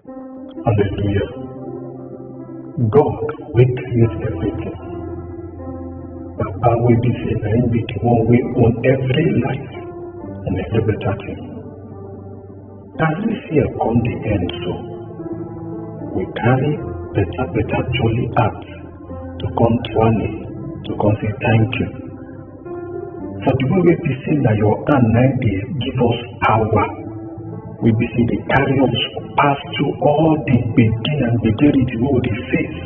Hallelujah. God wey create everything. Baba wey be say na him be the one wey own every life and every better thing. As this year come the end so, we carry better better jolly heart to come to Ani to come say thank you For the way wey be say na your hand na im dey give us power, wey be say dey carry us pass through all the gbege and gbegerity wey we dey face.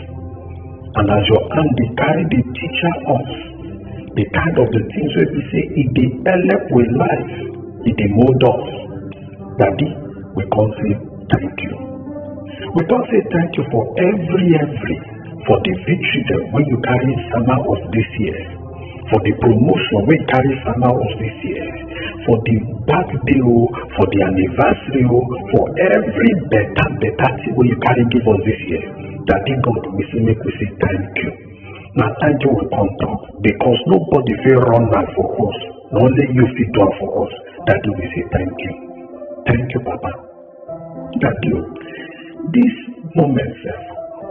And as your hand dey carry dey teacher us the kind of the things wey be say e dey help we life, e dey mold us. Daddy, we come say thank you. We come say thank you for every every for the victory dem wey you carry sama us this year. for the promotion wey carry sama us this year for the birthday o for the anniversary o for every better better thing wey you carry give us this year daddy god we say make we say thank you na thank you we come talk because nobody fit run am for us na only you fit do am for us daddy we say thank you thank you papa. that you this moment sef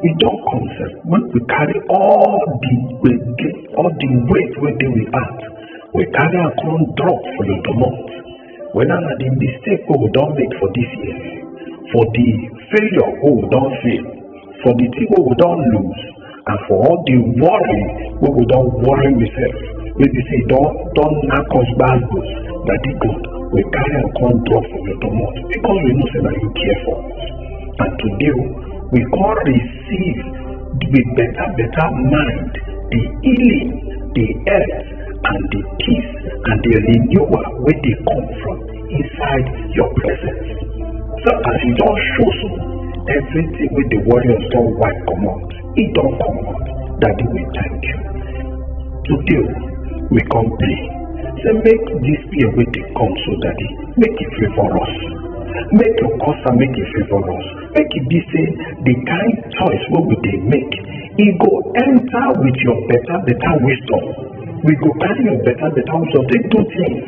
we don come sef make we carry all the gbege all the weight wey dey we heart we carry am come drop for your domot whether na the mistake wey we don make for this year for the failure wey we don fail for the thing wey we don lose and for all the worry wey go don worry myself wey be say don don knack us gbazgbos daddy god we carry am come drop for your domot because we know say na you care for us and today o we come receive with better better mind the healing the health and the peace and the renewal wey dey come from inside your presence. So as you don show so, everything wey the warriors don wipe comot, e don comot. Daddy, we thank you. Today, we come pray. Say make this year wey dey come so, Daddy, make e favour us. Make your custom make e favour us. Make e be say the kind choice wey we dey make, e go enter with your better better wisdom. We go carry your better better wisdom take do things.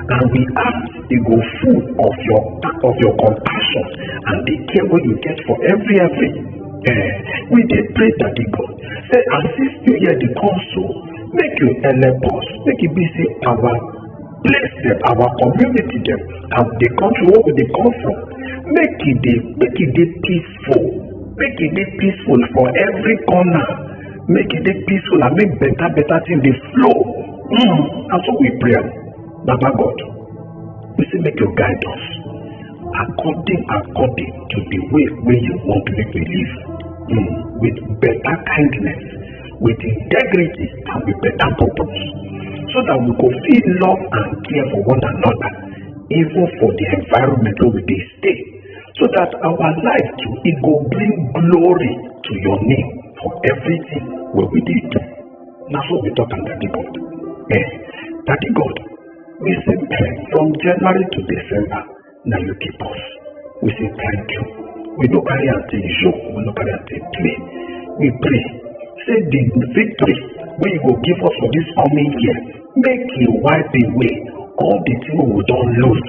and we ask e go full of your of your compassion and the care wey you get for every every eh we dey pray daddy god say as this new year dey come so make you help us make e be say our place dem our community dem and the country wey we dey come from make e dey make e dey peace peaceful make e dey peaceful for every corner make e dey peaceful and make better better thing dey flow mm, na so we pray am baba god we say make you guide us according according to the way wey you want make we live mm, with better kindness with integrity and with better purpose so that we go fit love and care for one another even for the environment wey we dey stay so that our life too e go bring glory to your name for everything wey we dey do na so we talk am daddy god eh daddy god we say eh, from january to december na you keep us we say thank you we no carry am take joke we no carry am take play we pray say the victory wey you go give us for this coming year make e wipe away all the thing wey we don lose